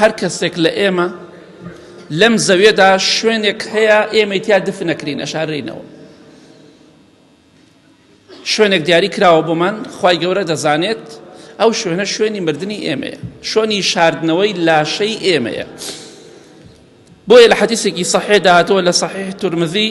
هەر کەسێک لە ئێمە لەم زەوێدا شوێنێک هەیە ئێمەی تیا دفنەکرین ئەشارینەوە شوێنێک دیاری کراوە بۆمان خی گەورە دەزانێت ئەو شوێنە شوێنی مردنی ئێمەیە شوێنی شاردنەوەی لاشەی ئێمەیە بۆیە لە حەدیسێکی سەحێ داهاتەوە لە سەحێ تورمزی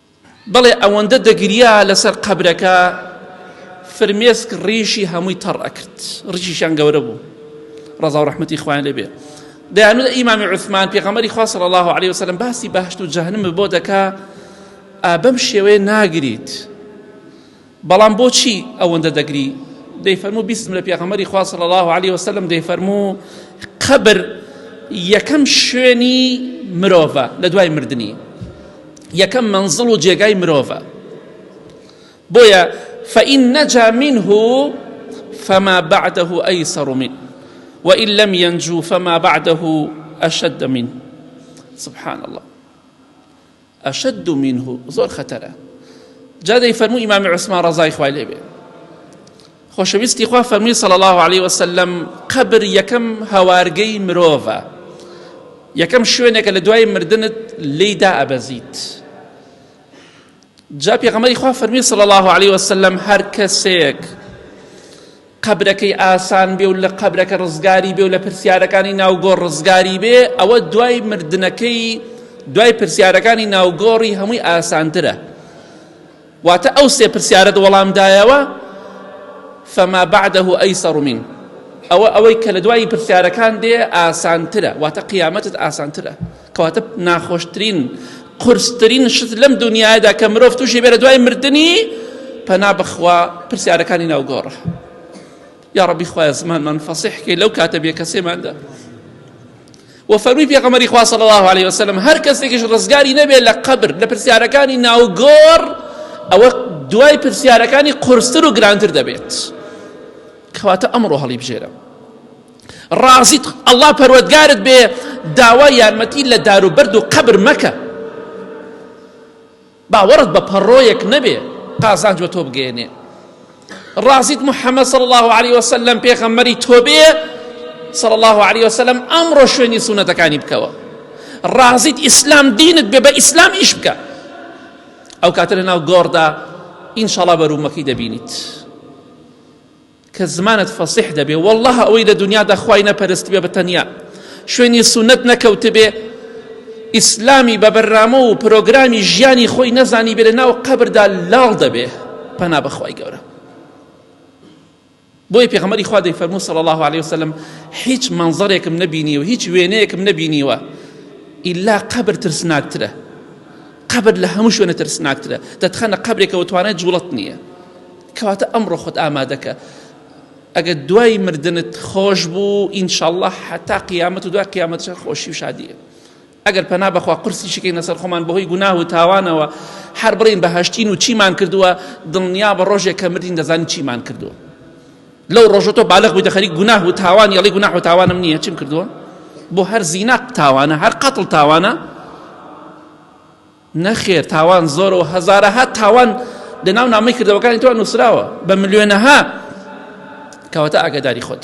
بەڵێ ئەوەندە دەگریا لەسەر قەبرەکە فرمێسک ڕیشی هەمووی تەڕ ئەکرد ڕیشیشان گەورە بوو ڕەزا و ڕەحمەتی خوان لێبێ دەیانوت ئیمامی عوثمان پێغەمەری خوا صلی الله عليه وسلم باسی بەهشت و جەهنم بۆ دەکا بەم شێوەیە ناگریت بەڵام بۆچی ئەوەندە دەگری؟ دەیفەرموو بیستم لە پێغەمبەری خوا صلی الله علیه وسلم دەیفەرموو قەبر یەکەم شوێنی مرۆڤە لە دوای مردنی یەکەم منزڵ و جێگای مرۆڤە بۆیە فإن نجا منه فما بعده أيسر منه وإن لم ينجو فما بعده أشد منه سبحان الله اشد منه زۆر خەتەرە جا دەیفەرموو ئیمامی عوسمان ڕەزای خوای لێ بێ خۆشەویستی خوا فەرمی صلی الله عليه وسلم قبر یەکەم هەوارگەی مرۆڤە یەکەم شوێنێکە لە دوای مردنت لێیدا ئەبەزیت جا پێغەمەری خوا فەرمی صلی الله عليه وسلم هەر کەسێک قەبرەکەی ئاسان بێ و لە قەبرەکە ڕزگاری بێ و لە پرسیارەکانی ناو گۆڕ ڕزگاری بێ ئەوە دوای مردنەکەی دوای پرسیارەکانی ناو گۆڕی هەمووی ئاسانترە واتە ئەو سێ پرسیارەت وەڵام دایەوە فما بعده ئەیسەڕ من ئەوە ئەوەی کە لە دوایی پرسیارەکان دێ ئاسانترە واتە قیامەتت ئاسانترە کەواتە ناخۆشترین قورسترین شت لەم دنیادا کە مرۆڤ تووشی بێرە دوای مردنی پەنا بخوا پرسیارەکانی ناوگۆڕە یا ڕبی خوای زمانمان فەسیحکەی لەو کاتە بێ کەسێماندا و فەرمی پێغەمەری خوا صلی الله عليه وسلم هەر کەسێکیش ڕزگاری نەبێت لە قەبر لە پرسیارەکانی ناوگۆڕ ئەوە دوای پرسیارەکانی قورستر و گرانتر دەبێت کەواتە ئەمڕۆ هەڵی بژێرە ڕازیت ئەڵا پەروەردگارت بێ داوای یارمەتی لە دار و بەرد و قەبر مەکە باوەڕت بە پەڕۆیەک نەبێ قازانج بە تۆ بگەێنێ ڕازیت محەممەد صل الله عليه وسلم پێخەممەری تۆ بێ صل الله عليه وسلم ئەمڕۆ شوێنی سونەتەکانی بکەوە ڕازیت ئیسلام دینت بێ بە ئیسلام ئیش بکە ئەو کاتە لە ناو گۆڕدا ئینشاڵا بەرومەکەی دەبینیت. کە زمانت فەسیح دەبێ والله ئەوەی لە دنیادا خوای نەپەرستبێ بە تەنیا شوێنی سونەت نەکەوتبێ ئیسلامی بە بەرنامە و پرۆگرامی ژیانی خۆی نەزانی بێ لە ناو قەبردا لاڵ دەبێ پەنا بەخوای گەورە بۆی پێغەمەری خوا دەی فەرموو صلی الله عليه وسلم هیچ منظرێکم نەبینیوە هیچ وێنەیەکم نەبینیوە ئیلا قەبر ترسناکترە قەبر لە هەموو شوێنە ترسناکترە دەتخەنە قەبرێکەوە توانای جوڵت نییە کەواتە ئەمڕۆ خۆت ئامادەکە ئەگەر دوای مردنت خۆش بوو ئینشاءاللە حتا قیامەت و دوای قیامەت خۆشی و شادیە ئەگەر پەنا بەخوا قرسی شکەین لەسەر خۆمان بەهۆی گوناه و تاوانەوە هەر بڵین بە هەشتین و چیمان کردووە دڵنیا بە ڕۆژێک کە مردین دەزانین چیمان کردووە لەو ڕۆژە تۆ بالغ بوویتە خەریک گوناه و تاوان یەڵی گوناه و تاوانم نییە چیم کردووە بۆ هەر زینا تاوانە هەر قەتڵ تاوانە نەخێر تاوان زۆرە و هەزارەها تاوان لەناو نامەی کردەوەکانی تۆ نووسراوە بە ملیۆنەها کەواتە ئاگاداری خۆت.